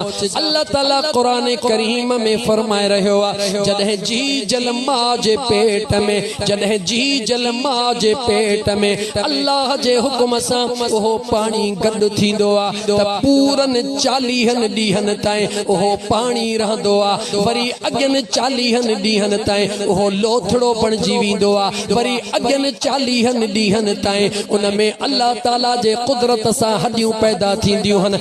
الله تعالي قرآن ڪريم ۾ فرمائي رهيو آهي جڏهن جي جل ماء جي پيٽ ۾ جڏهن جي جل ماء جي پيٽ ۾ الله جي حڪم سان اهو پاڻي گڏ ٿيندو آهي ته پورن چاليهن ڏينهن تائين اهو پاڻي رهندو آهي وري اڳين چاليهن ڏينهن تائين اهو لوٿڙو بڻجي ويندو آهي وري اڳين چاليهن ڏينهن تائين ان ۾ الله تعالي جي قدرت سان هڏيون پيدا ٿينديون آهن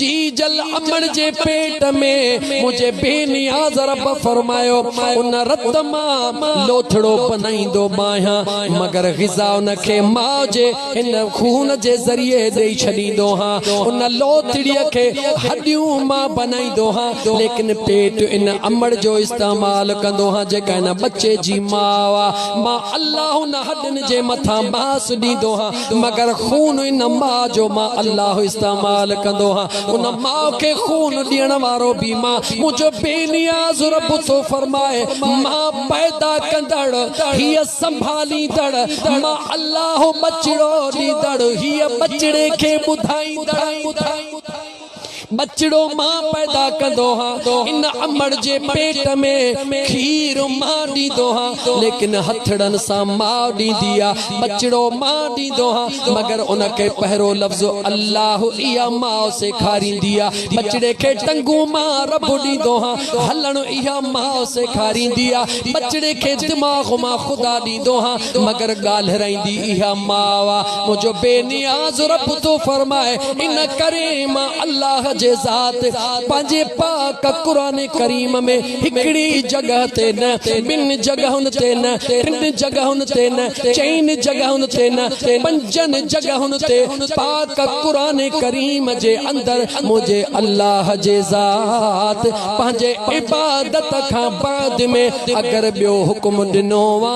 جي جل امڙ جي پيٽ ۾ منهنجي بي نياز رب فرمايو ان رت مان لوٿڙو بنائيندو باهيان مگر غذا ان کي ماء جي ان خون جي ذريعي ڏئي ڇڏيندو ها ان لوٿڙي کي هڏيون مان بنائيندو ها ليڪن پيٽ ان امڙ جو استعمال ڪندو ها جيڪا ان ٻچي جي ماء مان الله ان هڏن جي مٿان ماس ڏيندو ها مگر خون ان ماء جو مان الله استعمال ڪندو ها ان ماء کي خون ڏيڻ وارو به ماء منهنجو بي نياز رب ٿو فرمائي ماء پيدا ڪندڙ هي سنڀاليندڙ ماء الله بچڙو ڏيندڙ هي بچڙي کي ٻڌائيندڙ ٻچڙو مان پيدا ڪندو ها، ان امڙ جي پيٽ ۾ کير مان ڏيندو ها، ليڪن هٿڙن سان ماء ڏيندي آ، ٻچڙو مان ڏيندو ها، مگر ان کي پهرو لفظ الله اها ماء سيکاريندي آ، ٻچڙي کي ٽنگون مان رب ڏيندو ها، هلڻ اها ماء سيکاريندي آ، ٻچڙي کي دماغ مان خدا ڏيندو ها، مگر ڳالهرائيندي اها ماء آ. منهنجو بي نياز رب ٿو فرمائي ان ڪري مان الله جي ذات پنهنجي پاڪ قرآن ڪريم ۾ هڪڙي جڳهه تي نه ٻن جڳهن تي نه ٽن جڳهن تي نه چئن جڳهن تي نه پنجن جڳهن تي پاڪ قرآن ڪريم جي اندر منهنجي الله جي ذات پنهنجي عبادت کان بعد ۾ اگر ٻيو حڪم ڏنو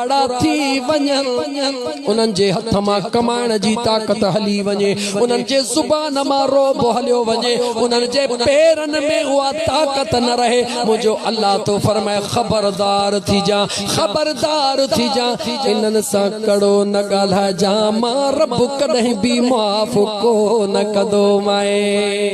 ڪاڙا ٿي وڃن، انهن جي هٿ مان ڪمائڻ جي طاقت هلي وڃي، انهن جي زبان مان رعب هليو وڃي، انهن جي پيرن ۾ اها طاقت نه رهي، منهنجو الله ٿو فرمائي، خبردار ٿيجان، خبردار ٿيجان، انهن سان ڪڙو نه ڳالهائجان، مان رب ڪڏهن به معاف ڪونه ڪندومانء.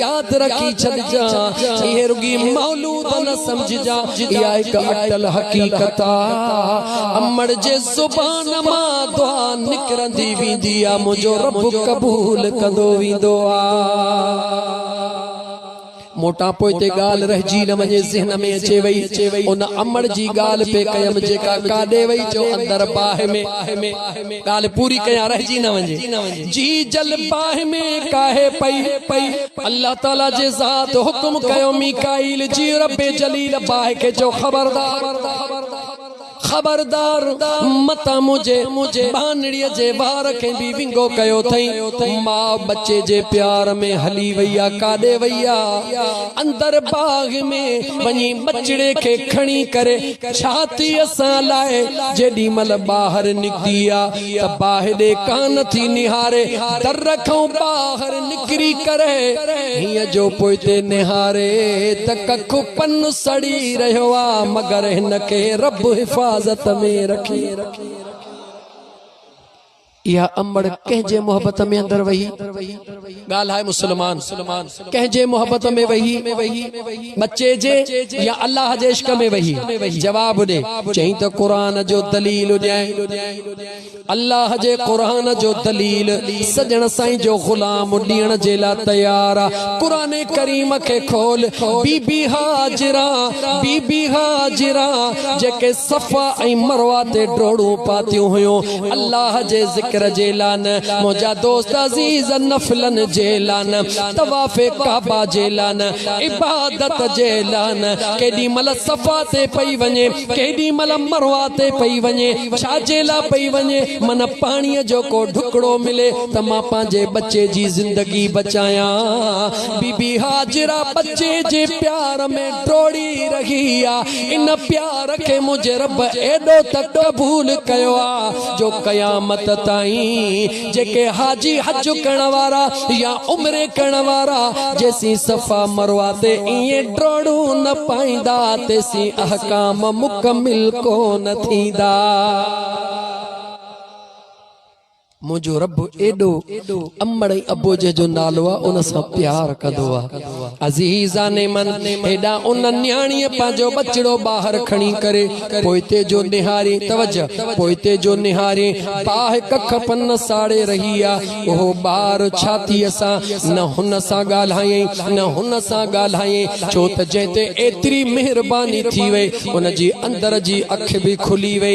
ياد رکي ڇڏجان، اهي رڳي مولود نه سمجهجان، اها هڪ اٽل حقيقت آ. امڙ جي زبان مان دعا نڪرندي ويندي آ، منهنجو رب قبول ڪندو ويندو آ. موٽان پوئتي ڳالهه رهجي نه وڃي، ذهن ۾ اچي وئي، ان امڙ جي ڳالهه پئي ڪيم، جيڪا ڪاڏي وئي، جو اندر باهه ۾. ڳالهه پوري ڪيان رهجي نه وڃي جي جل باهه ۾ ڪاهي پئي پئي الله تعالي جي ذات حڪم ڪيو ميڪائيل جي رب جليل باهه کي چيو خبردار خبردار متان منهنجي ٻانهڙي جي وار کي به ونگو ڪيو اٿئي ماء ٻچي جي پيار ۾ هلي وئي آ ڪاڏي وئي آ اندر باغ ۾ وڃي ٻچڙي کي کڻي ڪري ڇاتيء سان لائي جيڏي مھل ٻاھر نڪتي ھا ته باھيڏي ڪان ٿي نھاري در کان ٻاھر نڪري ڪري ھينء جو پوئتي نھاري ته ڪک پن سڙي رھيو آ مگر ھن کي رب حفاظت ۾ رکي. اها امڙ ڪنهن جي محبت ۾ اندر وهي ڳالهائي مسلمان ڪنهن جي محبت ۾ وهي ٻچي جي يا الله جي عشق ۾ وهي جواب ڏي چئين ته قرآن جو دليل ڏيائين الله جي قرآن جو دليل سڄڻ سائين جو غلام ڏيڻ جي لاء تيار آ قرآن ڪريم کي کول بي بي هاجرا بي بي هاجرا جيڪي صفا ۽ مروه تي ڊوڙون پاتيون هيون الله جي ذڪر جي لاء نه، منهنجا دوست عزيز نفلن جي لاء نه، طواف ڪعبه جي لاء نه، عبادت جي لاء نه، ڪيڏي مهل صفا تي پئي وڃي، ڪيڏي مهل مروه تي پئي وڃي، ڇا جي لاء پئي وڃي، من پاڻيء جو ڪو ڍڪڙو ملي ته مان پنهنجي ٻچي جي زندگي بچايان. بي بي هاجره ٻچي جي پيار ۾ ڊوڙي رهي آ. ان پيار کي منهنجي رب ايڏو ته قبول ڪيو آ جو قيامت تائين جيڪي حاجي حج ڪرڻ وارا يا عمري ڪرڻ وارا جيسين صفا مروه تي ائين ڊوڙون نه پائيندا تيسين احڪام مڪمل ڪونه ٿيندا. منهنجو رب ايڏو امڙ ۽ ابو جنهن جو نالو آ ان سان پيار ڪندو آ. عزيزان من! هيڏانهن ان نياڻيء پنهنجو ٻچڙو ٻاهر کڻي ڪري پوئتي جو نهارين، توجه! پوئتي جو نهارين باهه ڪک پن ساڙي رهي آ. اهو ٻار ڇاتيء سان نه هن سان ڳالهايائين نه هن سان ڳالهايائين ڇو ته جنهن تي ايتري مهرباني ٿي وئي ان جي اندر جي اک به کلي وئي.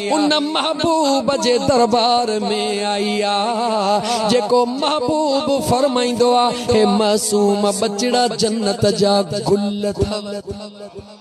ان محبوب جي دربار ۾ آئي آ جيڪو محبوب فرمائيندو آ هي معصوم ٻچڙا جنت جا گل اٿئي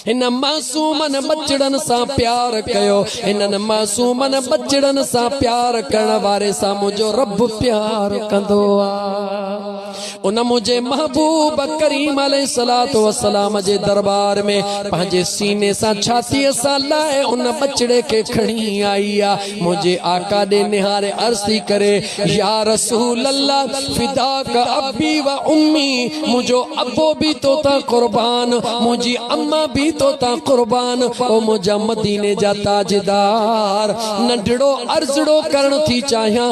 هن معصومن ٻچڙن سان پيار ڪيو هنن معصومن ٻچڙن سان پيار ڪرڻ واري سان منهنجو رب پيار ڪندو آ ان منهنجي محبوب ڪريم عليه الصلوة والسلام جي درٻار ۾ پنهنجي سيني سان ڇاتيء سان لاهي ان ٻچڙي کي کڻي آئي آ منهنجي آقا ڏي نهاري عرض ٿي ڪري يا رسول الله فداک ابي و امي منهنجو ابو به تو تان قربان منهنجي اما به تو تان قربان او منهنجا مديني جا تاجدار ننڍڙو عرضڙو ڪرڻ ٿي چاهيان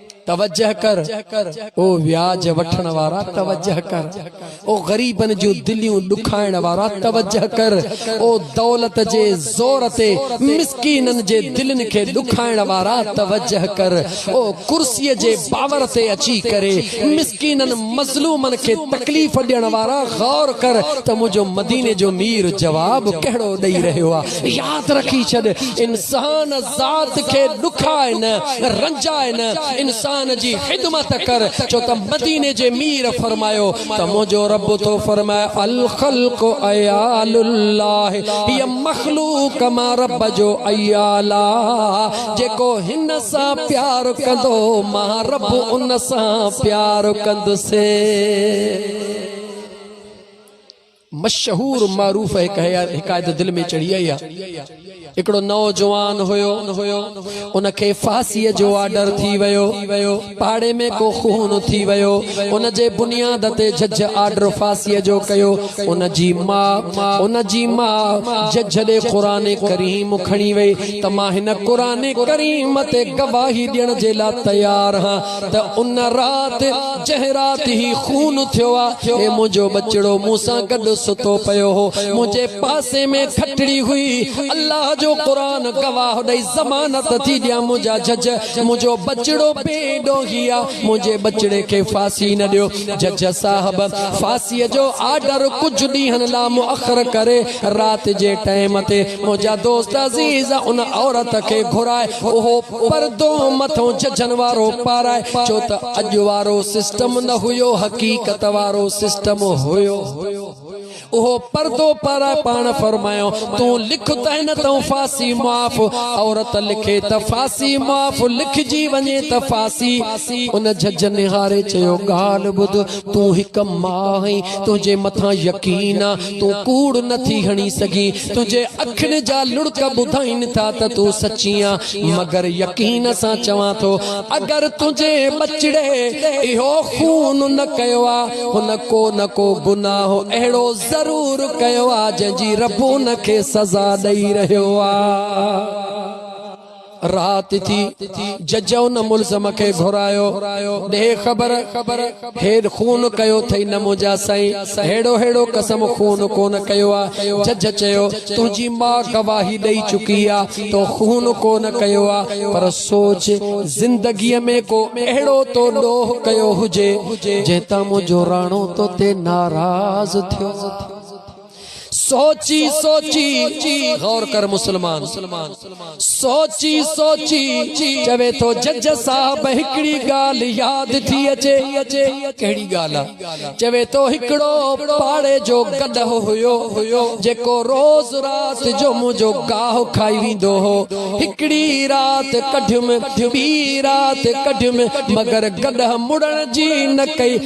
توجه ڪر او وياج وٺڻ وارا توجه ڪر او غريبن جون دليون ڏکائڻ وارا توجه ڪر او دولت جي زور تي مسڪينن جي دلين کي ڏکائڻ وارا توجه ڪر او ڪرسي جي باور تي اچي ڪري مسڪينن مظلومن کي تڪليف ڏيڻ وارا غور ڪر ته منهنجو مديني جو مير جواب ڪهڙو ڏئي رهيو آ ياد رکي ڇڏ انسان ذات کي ڏکاء نه رنجاء نه انسان جي خدمت ڪر ڇو ته مديني جي مير فرمايو ته منهنجو رب ٿو فرمائي الخلق عيال الله هي مخلوق ما رب جو عيال جيڪو هن سان پيار ڪندو ما رب ان سان پيار ڪندسي مشهور معروف هڪ حڪايت دل ۾ چڙهي آئي آهي. هڪڙو نوجوان هيو. ان کي ڦاسيء جو آرڊر ٿي ويو. پاڙي ۾ ڪو خون ٿي ويو. ان جي بنياد تي جج آرڊر ڦاسيء جو ڪيو. ان جي ماء ان جي ماء جج ڏي قرآن ڪريم کڻي وئي ته مان هن قرآن ڪريم تي گواهي ڏيڻ جي لاء تيار هان. ته ان رات جنهن رات هي خون ٿيو آ هي منهنجو ٻچڙو مون سان گڏ ستو پيو هو منهنجي پاسي ۾ کٽڙي هئي الله جو قرآن گواهه ڏئي ضمانت ٿي ڏيان منهنجا جج منهنجو ٻچڙو بي ڏوهي آ منهنجي ٻچڙي کي ڦاسي نه ڏيو جج صاحب ڦاسي جو آرڊر ڪجهه ڏينهن لا مؤخر ڪري رات جي ٽيم تي منهنجا دوست عزيز ان عورت کي گهرائي اهو پردو مٿون ججن وارو پارائي چو ته اڄ وارو سسٽم نه هيو حقيقت وارو سسٽم هيو اهو پردو پارائي پاڻ فرمايو تون لک ته هن تون ڦاسي معاف عورت لکي ته ڦاسي معاف لکجي وڃي ته ڦاسي ان جج نهاري چيو ڳالهه ٻڌ تون هڪ ماء آهين تنهنجي مٿان يقين آ تون ڪوڙ نه ٿي هڻي سگهين، تنهنجي اکين جا لڙڪ ٻڌائين ٿا ته تون سچي آن، مگر يقين سان چوان ٿو، اگر تنهنجي ٻچڙي اهو خون نه ڪيو آ، هن ڪو نه ڪو گناهه اهڙو ضرور ڪيو آ، جنهن جي رب هن کي سزا ڏئي رهيو آ. رات ٿي، جج ان ملزم کي گهرايو، ڏي خبر، هيڏ خون ڪيو ٿئي نه منهنجا سائين، ههڙو ههڙو قسم خون ڪونه ڪيو آ. جج چيو، تنهنجي ماء گواهي ڏئي چڪي آ، تو خون ڪونه ڪيو آ، پر سوچ، زندگيء ۾ ڪو اهڙو تو ڏوهه ڪيو هجي، جنهن تان منهنجو راڻو توتي ناراض ٿيو. سوچي سوچي غور ڪر مسلمان سوچي سوچي چوي ٿو جج صاحب هڪڙي ڳالهه ياد ٿي اچي ڪهڙي ڳالهه چوي ٿو هڪڙو پاڙي جو گڏهه هيو هيو جيڪو روز رات جو منهنجو گاهه کائي ويندو هو هڪڙي رات ڪڍيم ٻي رات ڪڍيم مگر گڏهه مڙڻ جي نه ڪئي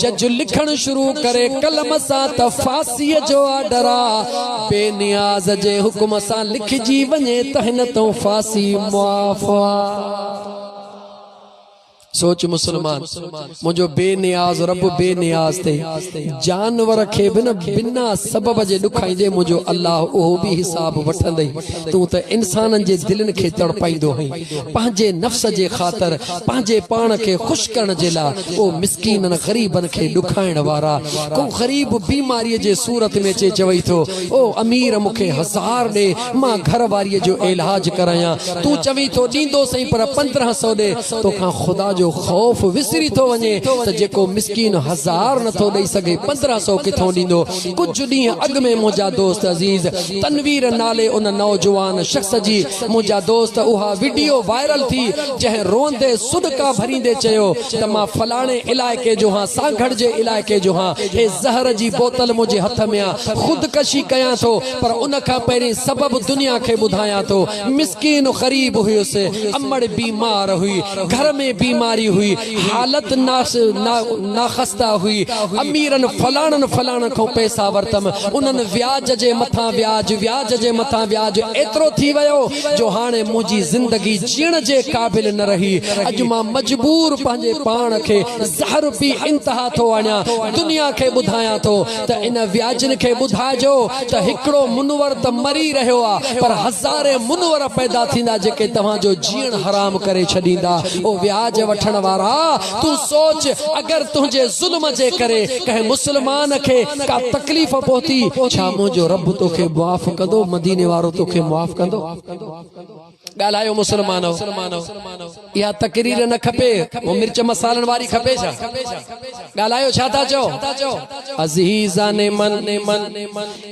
جج لکڻ شروع ڪري قلم سان ته ڦاسيء جو آرڊر آ، بي نياز جي حڪم سان لکجي وڃي ته هن تئون ڦاسي معاف آ. سوچ مسلمان، منهنجو بي نياز رب بي نياز تي جانور کي به نه بنا سبب جي ڏکائيندي منهنجو الله اهو به حساب وٺندئي، تون ته انسانن جي دلين کي تڙپائيندو هئين. پنهنجي نفس جي خاطر پنهنجي پاڻ کي خوش ڪرڻ جي لاء ڪو مسڪينن غريبن کي ڏکائڻ وارا ڪو غريب بيماري جي صورت ۾ اچي چوي ٿو او امير مون کي هزار ڏي مان گهر واري جو ايلهاج ڪرايان تون چوين ٿو ڏيندو سهي پر پندرهن سو ڏي تو کان خدا جو خوف وسري ٿو وڃي ته جيڪو مسڪين هزار نٿو ڏئي سگهي پندرهن سو ڪٿون ڏيندو ڪجهه ڏينهن اڳ ۾ منهنجا دوست عزيز تنوير نالي ان نوجوان شخص جي منهنجا دوست اها وڊيو وائرل ٿي جنهن روئندي سڏڪا ڀريندي چيو ته مان فلاڻي علائقي جو هان سانگهڙ جي علائقي جو هان هي زهر جي بوتل منهنجي هٿ ۾ آ خودڪشي ڪيان ٿو پر ان کان پهرين سبب دنيا کي ٻڌايان ٿو مسڪين غريب هيس امڙ بيمار هئي گهر ۾ بيماري هئي حالت ناخسته هئي. اميرن فلاڻن فلاڻن کان پئسا ورتم، انهن وياج جي مٿان وياج، وياج جي مٿان وياج ايترو ٿي ويو جو هاڻي منهنجي زندگي جيئڻ جي قابل نه رهي. اڄ مان مجبور پنهنجي پاڻ کي زهر پي انتها ٿو آڻيان. دنيا کي ٻڌايان ٿو ته ان وياجن کي ٻڌائجو ته هڪڙو منور ته مري رهيو آ پر هزارين منور پيدا ٿيندا جيڪي توهان جو جيئڻ حرام ڪري ڇڏيندا او وياج وٺڻ وارا تون سوچ اگر تنهنجي ظلم جي ڪري ڪنهن مسلمان کي ڪا تڪليف پهتي ڇا منهنجو رب توکي معاف ڪندو مديني وارو توکي معاف ڪندو ڳالهايو مسلمانو! اها تقرير نه کپي، اهو مرچ مصالحن واري کپي ڇا؟ ڳالهايو ڇا ٿا چئو؟ عزيزان من!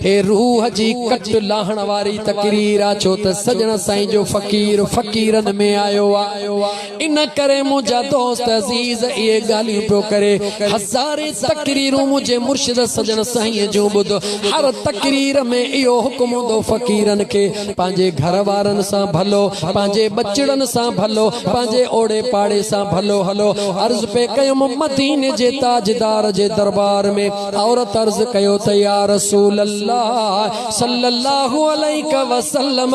هي روح جي ڪٽ لاهڻ واري تقرير آ، ڇو ته سڄڻ سائين جو فقير فقيرن ۾ آيو آ. ان ڪري منهنجا دوست عزيز اهي ڳالهيون پيو ڪري. هزارين تقريرون منهنجي مرشد سڄڻ سائينء جون ٻڌ. هر تقرير ۾ اهو حڪم هوندو فقيرن کي پنهنجي گهر وارن سان ڀلو، پنهنجي ٻچڙن سان ڀلو، پنهنجي اوڙي پاڙي سان ڀلو هلو. عرض پئي ڪيم مديني جي تاجدار جي دربار ۾ عورت عرض ڪيو ته يا رسول الله صلّي اللّٰه عليڪ وسلّم!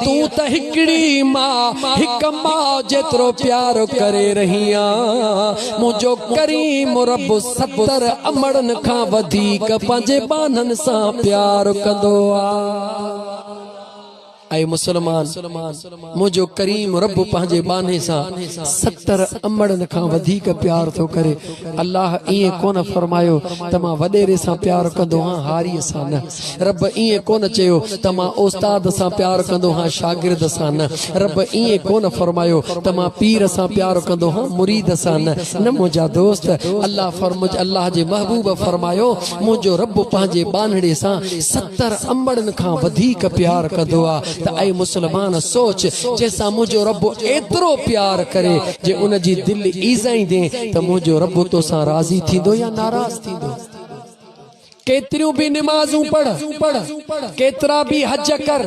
تون ته هڪڙي ماء هڪ ماء جيترو پيار ڪري رهي آن منهنجو ڪريم رب ستر امڙن کان وڌيڪ پنهنجي ٻانهن سان پيار ڪندو آ اي مسلمان منهنجو ڪريم رب پنهنجي ٻانهي سان ستر امڙن کان وڌيڪ پيار ٿو ڪري الله ائين ڪونه فرمايو ته مان وڏيري سان پيار ڪندو آهيان هاري سان نه رب ائين ڪونه چيو ته مان استاد سان پيار ڪندو هان شاگرد سان نه رب ائين ڪونه فرمايو ته مان پير سان پيار ڪندو هان مريد سان نه نه منهنجا دوست الله فرمج الله جي محبوب فرمايو منهنجو رب پنهنجي ٻانهڙي سان ستر امڙن کان وڌيڪ پيار ڪندو آ ته اي مسلمان سوچ جنهن سان منهنجو رب ايترو پيار ڪري جي ان جي دل ايزائيندين ته منهنجو رب توسان راضي ٿيندو يا ناراض ٿيندو ڪيتريون به نمازون پڙهه، ڪيترا به حج ڪر،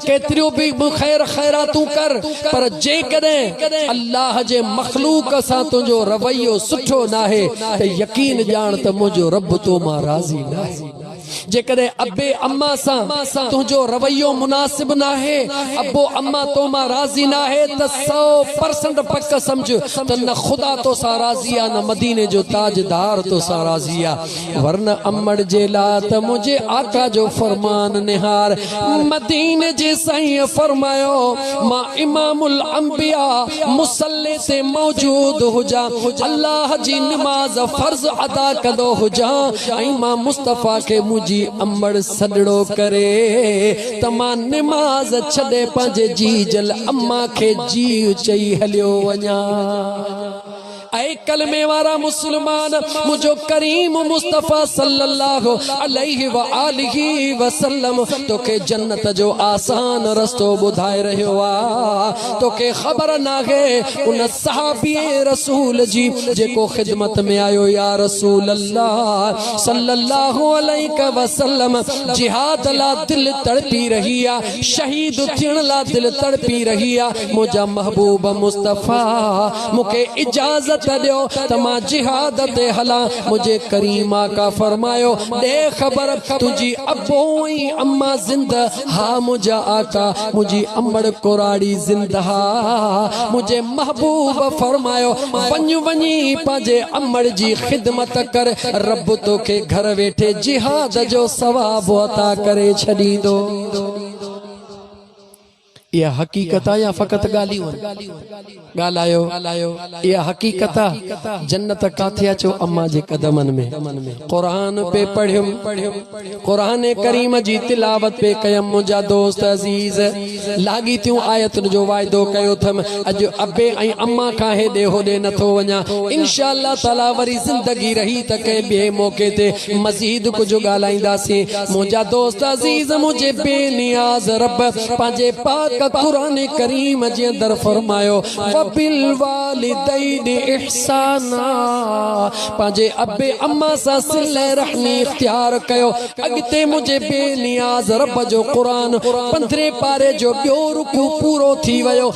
ڪيتريون به خير خيراتون ڪر، پر جيڪڏهن الله جي مخلوق سان تنهنجو رويو سٺو ناهي ته يقين ڄاڻ ته منهنجو رب تو مان راضي ناهي. جيڪڏهن ابي اما سان تنهنجو رويو مناسب ناهي، ابو اما تو مان راضي ناهي ته سئو پرسنٽ پڪ سمجهه ته نه خدا تو سان راضي آ نه مديني جو تاجدار تو سان راضي آ. ورنه امڙ جي لا ته منهنجي آقا جو فرمان نهار مديني جي سائين فرمايو مان امام الانبياء مصلي تي موجود هجان الله جي نماز فرض ادا ڪندو هجان ۽ مان مصطفيٰ کي منهنجي امڙ سڏڙو ڪري ته مان نماز ڇڏي پنهنجي جيجل امان کي جيء چئي هليو وڃان اي ڪلمي وارا مسلمان! منهنجو ڪريم مصطفيٰ صلّي اللّٰه عليه واٰله وسلّم توکي جنّت جو آسان رستو ٻڌائي رهيو آ، توکي خبر ناهي؟ ان صحابيء رسول جي جيڪو خدمت ۾ آيو، يا رسول الله صلّي اللّٰه عليه وسلّم! جهاد لا دل تڙپي رهي آ، شهيد ٿيڻ لا دل تڙپي رهي آ، منهنجا محبوب مصطفيٰ! مون کي اجازت ڏيو ته مان جهاد تي هلان. منهنجي ڪريم آقا فرمايو، ڏي خبر تنهنجي ابو ۽ اما زنده؟ ها منهنجا آقا، منهنجي امڙ ڪراڙي زنده آ. منهنجي محبوب فرمايو، وڃ وڃي پنهنجي امڙ جي خدمت ڪر، رب توکي گهر ويٺي جهاد جو ثواب عطا ڪري ڇڏيندو. اها حقيقت آ يا فقط ڳالهيون آهن؟ ڳالهايو اها حقيقت آ جنت ڪاٿي آ چئو امان جي قدمن ۾ قرآن پئي پڙهيم قرآن ڪريم جي تلاوت پئي ڪيم منهنجا دوست عزيز لاڳيتيون آيتن جو واعدو ڪيو ٿم اڄ ابي ۽ امان کان هيڏي هوڏي نٿو وڃان انشاء الله تعالي وري زندگي رهي ته ڪنهن ٻئي موقعي تي مزيد ڪجهه ڳالهائينداسين منهنجا دوست عزيز منهنجي بي نياز رب پنهنجي پاڪ قرآن ڪريم جي اندر فرمايو وبالوالدين احسانا پنهنجي ابي اما سان صله رحمي اختيار ڪيو اڳتي منهنجي بي نياز رب جو قرآن پندرهين پاري جو ٻيو رڪوع پورو ٿي ويو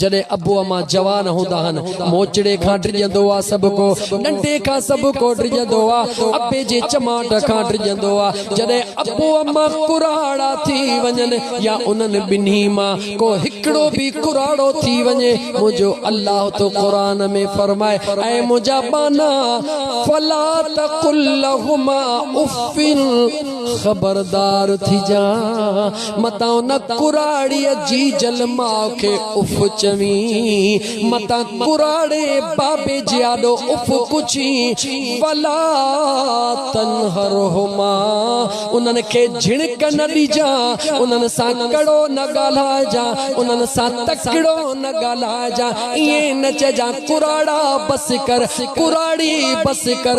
جڏهن ابو امان جوان هوندا هن، موچڙي کان ڊڄندو آ سڀڪو، ڏنڊي کان سڀڪو ڊڄندو آ، ابي جي چماٽ کان ڊڄندو آ. جڏهن ابو امان ڪراڙا ٿي وڃن يا انهن ٻنهي مان ڪو هڪڙو به ڪراڙو ٿي وڃي، منهنجو الله ٿو قرآن ۾ فرمائي، اي منهنجا ٻانها! فلا تقل لهما اف خبردار ٿجان متان ان ڪراڙيء جي جل ماء کي اف چوين، متان ڪراڙي بابي جي آڏو اف پڇين، ولا تنهرهما، انهن کي جهڻڪ نه ڏجان، انهن سان ڪڙو نه ڳالهائجان، انهن سان تڪڙو نه ڳالهائجان، ائين نه چئجان ڪراڙا بس ڪر، ڪراڙي بس ڪر.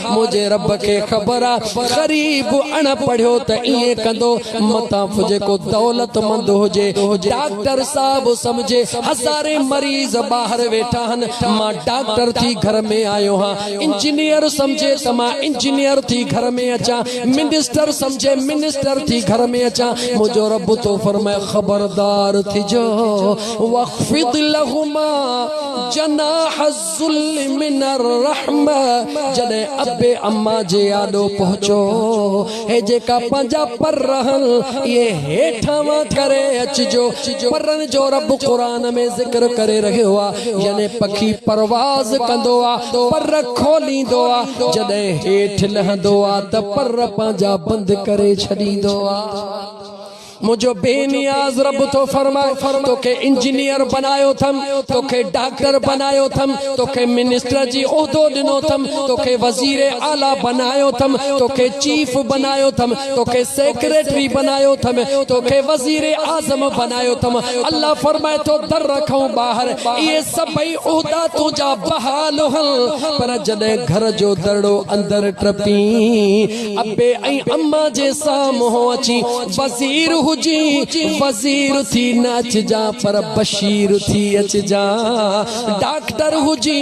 منهنجي رب کي خبر آ غريب اڻ پڙهيو ته ائين ڪندو متان به جيڪو دولتمند هجي ڊاڪٽر صاحب سمجهي هزارين مريض ٻاهر ويٺا هن مان ڊاڪٽر ٿي گهر ۾ آيو هان انجنيئر سمجهي ته مان انجنيئر ٿي گهر ۾ اچان منسٽر سمجهي منسٽر ٿي گهر ۾ اچان منهنجو رب ٿو فرمائي خبردار ٿجو واخفض لهما جناح ذل من الرحم جڏهن ابي اما جي آڏو پهچو هي جيڪا پنهنجا پر رهن اهي هيٺان وان ڪري اچجو پرن جو رب قرآن ۾ ذڪر ڪري رهيو آ يعني پکي پرواز ڪندو آ پر کوليندو آ جڏهن هيٺ لهندو آ ته پر پنهنجا بند ڪري ڇڏيندو آ منهنجو بي نياز رب ٿو فرمائي، توکي انجنيئر بنايو اٿم، توکي ڊاڪٽر بنايو اٿم، توکي منسٽر جي عهدو ڏنو اٿم، توکي وزير اعليٰ بنايو اٿم، توکي چيف بنايو اٿم، توکي سيڪريٽري بنايو اٿم، توکي وزير اعظم بنايو اٿم. الله فرمائي ٿو در کان ٻاهر اهي سڀئي عهدا تنهنجا بحال هئا، پر جڏهن گهر جو درڙو اندر ٽپين، ابي ۽ اما جي سامهون اچي وزير هجي وزير ٿي نه اچجان پر بشير ٿي اچجان ڊاڪٽر هجي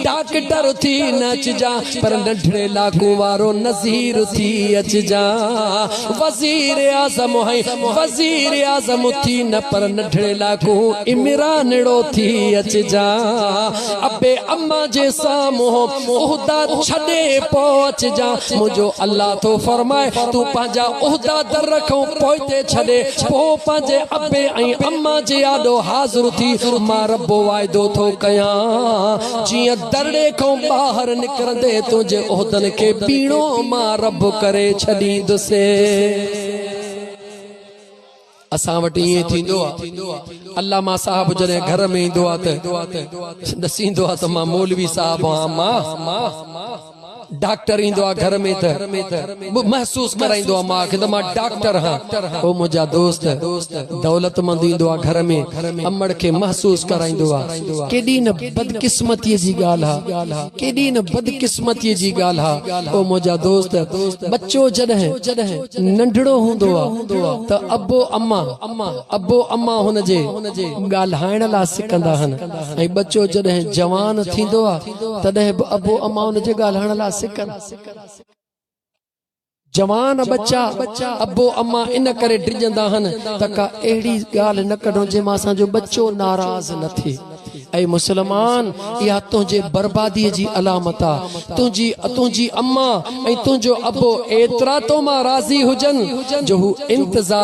ڊاڪٽر ٿي نه اچجان پر ننڍڙي لاکون وارو نظير ٿي اچجان وزير اعظم ۽ وزير اعظم ٿي نه پر ننڍڙي لاکون عمرانڙو ٿي اچجان ابي اما جي سامهون مون عهدا ڇڏي پوء اچجان، منهنجو الله ٿو فرمائي، تون پنهنجا عهدا در کان پوئتي ڇڏي، پوء پنهنجي ابي ۽ اما جي آڏو حاضر ٿي، مان رب واعدو ٿو ڪيان، جيئن درڙي کان ٻاهر نڪرندي تنهنجي عهدن کي ٻيڻو مان رب ڪري ڇڏيندس. اسان وٽ ائين ئي ٿيندو آ علامه صاحب جڏهن گهر ۾ ايندو آ ته ڏسيندو آ ته مان مولوي صاحب آ مان ڊاڪٽر ايندو آ گهر ۾ ته محسوس ڪرائيندو آ مان کي ته مان ڊاڪٽر هان او منهنجا دوست دولتمند ايندو آ گهر ۾ امڙ کي محسوس ڪرائيندو آ ڪيڏي نه بدقسمتي جي ڳالهه آ ڪيڏي نه بدقسمتي جي ڳالهه آ او منهنجا دوست ٻچو جڏهن ننڍڙو هوندو هو ته ابو اما، Abbo Amma، هن جي ڳالهائڻ لاء سڪندا هن ۽ ٻچو جڏهن جوان ٿيندو هو تڏهن به ابو اما هن جي ڳالهائڻ لاء سڪن. جوان ٻچا ابو اما ان ڪري ڊڄندا هن ته ڪا اهڙي ڳالهه نه ڪڍون جنهن مان اسان جو ٻچو ناراض نه ٿئي. اي مسلمان! اها تنهنجي برباديء جي علامت آ. تنهنجي تنهنجي امان ۽ تنهنجو ابو ايترا تو مان راضي هجن جو هو انتظار